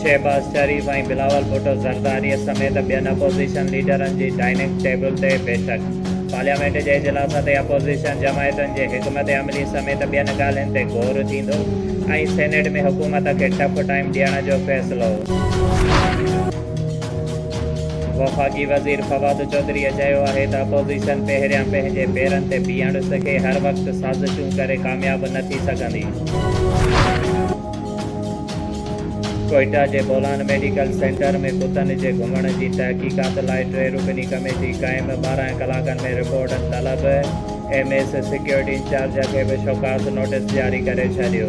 شهباز شريف ۽ بلاول ڀٽو زرداري سميت ٻين اپوزيشن ليڊرن جي ڊائننگ ٽيبل تي بيٺڪ، پارليامينٽ جي اجلاس تي اپوزيشن جماعتن جي حڪمت عملي سميت ٻين ڳالهين تي غور ٿيندو ۽ سينيٽ ۾ حڪومت کي ٽف ٽائيم ڏيڻ جو فيصلو. وفاقي وزير فواد چوڌريء چيو آهي ته اپوزيشن پهريان پنهنجي پيرن تي بيهڻ سکي، هر وقت سازشون ڪري ڪامياب نه ٿي سگهندي. ڪوئيٽا جي بولان ميڊيڪل سينٽر ۾ ڪتن جي گهمڻ جي تحقيقات لاء ٽي رڪني ڪميٽي قائم، ٻارهن ڪلاڪن ۾ رپورٽ طلب، ايم ايس سيڪيورٽي انچارج کي به شوڪاز نوٽيس جاري ڪري ڇڏيو.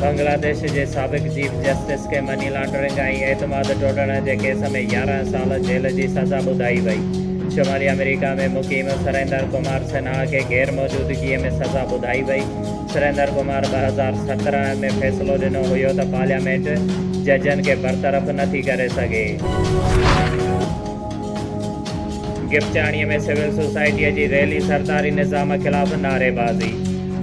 بنگلاديش جي سابق چيف جسٽس کي مني لانڊرنگ ۽ اعتماد ٽوڙڻ جي ڪيس ۾ يارهن سال جيل جي سزا ٻڌائي وئي. شمالي آمريڪا ۾ مقيم سريندر ڪمار سنها کي غير موجودگيء ۾ سزا ٻڌائي وئي. سريندر ڪمار ٻه هزار سترهن ۾ فيصلو ڏنو هيو ته پارليامينٽ ججن کي برطرف نه ٿي ڪري سگهي. گپچاڻيء ۾ سول سوسائٽيء جي ريلي، سرڪاري نظام خلاف نعريبازي.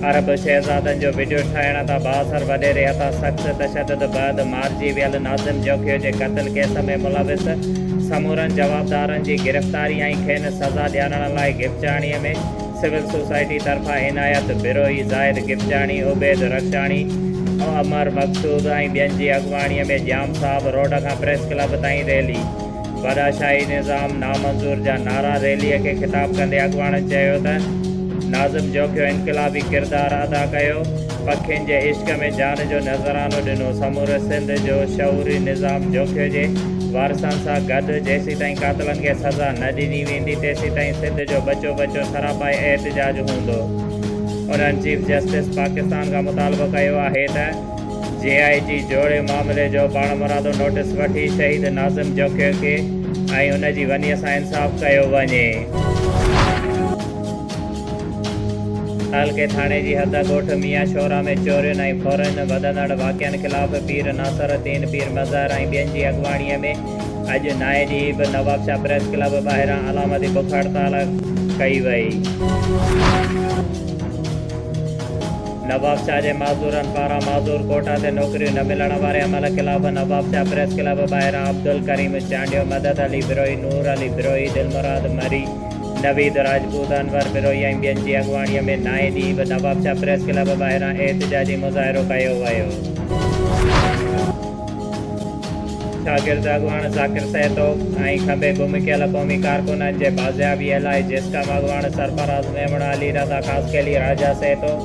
عرب شهزادن جو وڊيو ٺاهڻ تان بااثر وڏيري هٿان سخت تشدد بعد مارجي ويل ناظم جوکيو جي قتل ڪيس ۾ ملوث سمورن جوابدارن جي گرفتاري ۽ کين سزا ڏيارڻ لاء گپچاڻي ۾ سول سوسائٽي طرفان عنايت بروهي، زاهد گپچاڻي، عبيد رڪشاڻي، عمر مقصود ۽ ٻين جي اڳواڻي ۾ ڄام صاحب روڊ کان پريس ڪلب تائين ريلي. باداشاهي نظام نامنظور جا نعرا ريلي کي خطاب ڪندي اڳواڻن چيو ته ناظم جوکيو انقلابي ڪردار ادا ڪيو، پکين جي عشق ۾ جان جو نذرانو ڏنو، سموري سنڌ جو شعوري نظام جوکيو جي وارثن سان گڏ جيسيتائين قاتلن کي سزا نه ڏني ويندي تيسيتائين سنڌ جو ٻچو ٻچو سراپائي احتجاج هوندو. انهن چيف جسٽس پاڪستان کان مطالبو ڪيو آهي ته. جي آء جي جوڙي معاملي جو پاڻمرادو نوٽيس وٺي شهيد ناظم جوکيو کي ۽ ان جي ونيء سان انصاف ڪيو وڃي. تعلقي ٿاڻي جي حد ڳوٺ ميان شورا ۾ چورين ۽ ڦورن وڌندڙ واقعن خلاف پير ناصر الدين پير مظهر ۽ ٻين جي اڳواڻيء ۾ اڄ نائين ڏينهن به نوابشاهه پريس ڪلب ٻاهران علامتي بک هڙتال ڪئي وئي. نواب شاهه جي معذورن پاران معذور ڪوٽا تي نوڪريون نه ملڻ واري عمل خلاف نواب شاهه پريس ڪلب ٻاهران عبدالڪريم چانڊيو، مدد علي بروهي، نور علي بروهي، دلمراد مري، نويد راجپوت، انور بروهي ۽ ٻين جي اڳواڻيء ۾ نائين ڏينهن به نواب شاهه پريس ڪلب ٻاهران احتجاجي مظاهرو ڪيو ويو. شاگرد اڳواڻ ذاڪر سهتوڪ ۽ کنڀي گم ڪيل قومي ڪارڪنن جي بازيابيء لاء جيسڪام اڳواڻ سرفراز ميمڻ، علي رضا خاصخيلي، راجا سهتوڪ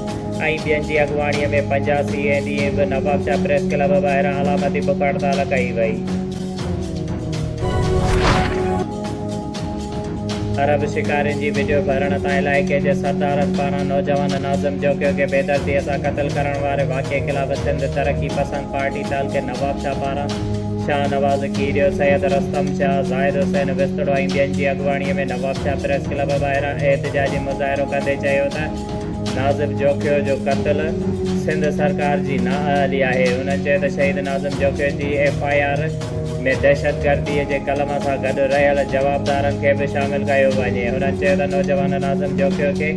۽ ٻين جي اڳواڻيء ۾ پنجاهه سي اي ڏينهن به نوابشاهه پريس ڪلب ٻاهران علامتي بک هڙتال ڪئي وئي. عرب شڪارين جي وڊيو ڀرڻ تان علائقي جي سردارن پاران نوجوان ناظم جوکيو کي بيدردي سان قتل ڪرڻ واري واقعي خلاف سنڌ ترقي پسند پارٽي تعلقي نوابشاهه پاران شاهه نواز کيريو، سيد رستم شاهه، زاهد حسين وسطڙو ۽ ٻين جي اڳواڻي ۾ نوابشاهه پريس ڪلب ٻاهران احتجاجي مظاهرو ڪندي چيو ته ناظم جوکيو جو قتل سنڌ سرڪار جي نااهلي آهي انهن چيو ته شهيد ناظم جوکيو جي ايف آء آر ۾ دهشتگردي جي قلم سان گڏ رهيل جوابدارن کي به شامل ڪيو وڃي. هنن چيو ته نوجوان ناظم جوکيو کي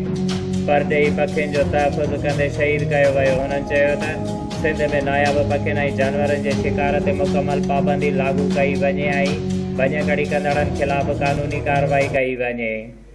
پرڏيهي پکين جو تحفظ ڪندي شهيد ڪيو ويو. هنن چيو ته سنڌ ۾ ناياب پکين ۽ جانورن جي شڪار تي مڪمل پابندي لاڳو ڪئي وڃي ۽ ڀڃڪڙي ڪندڙن خلاف قانوني ڪارروائي ڪئي وڃي.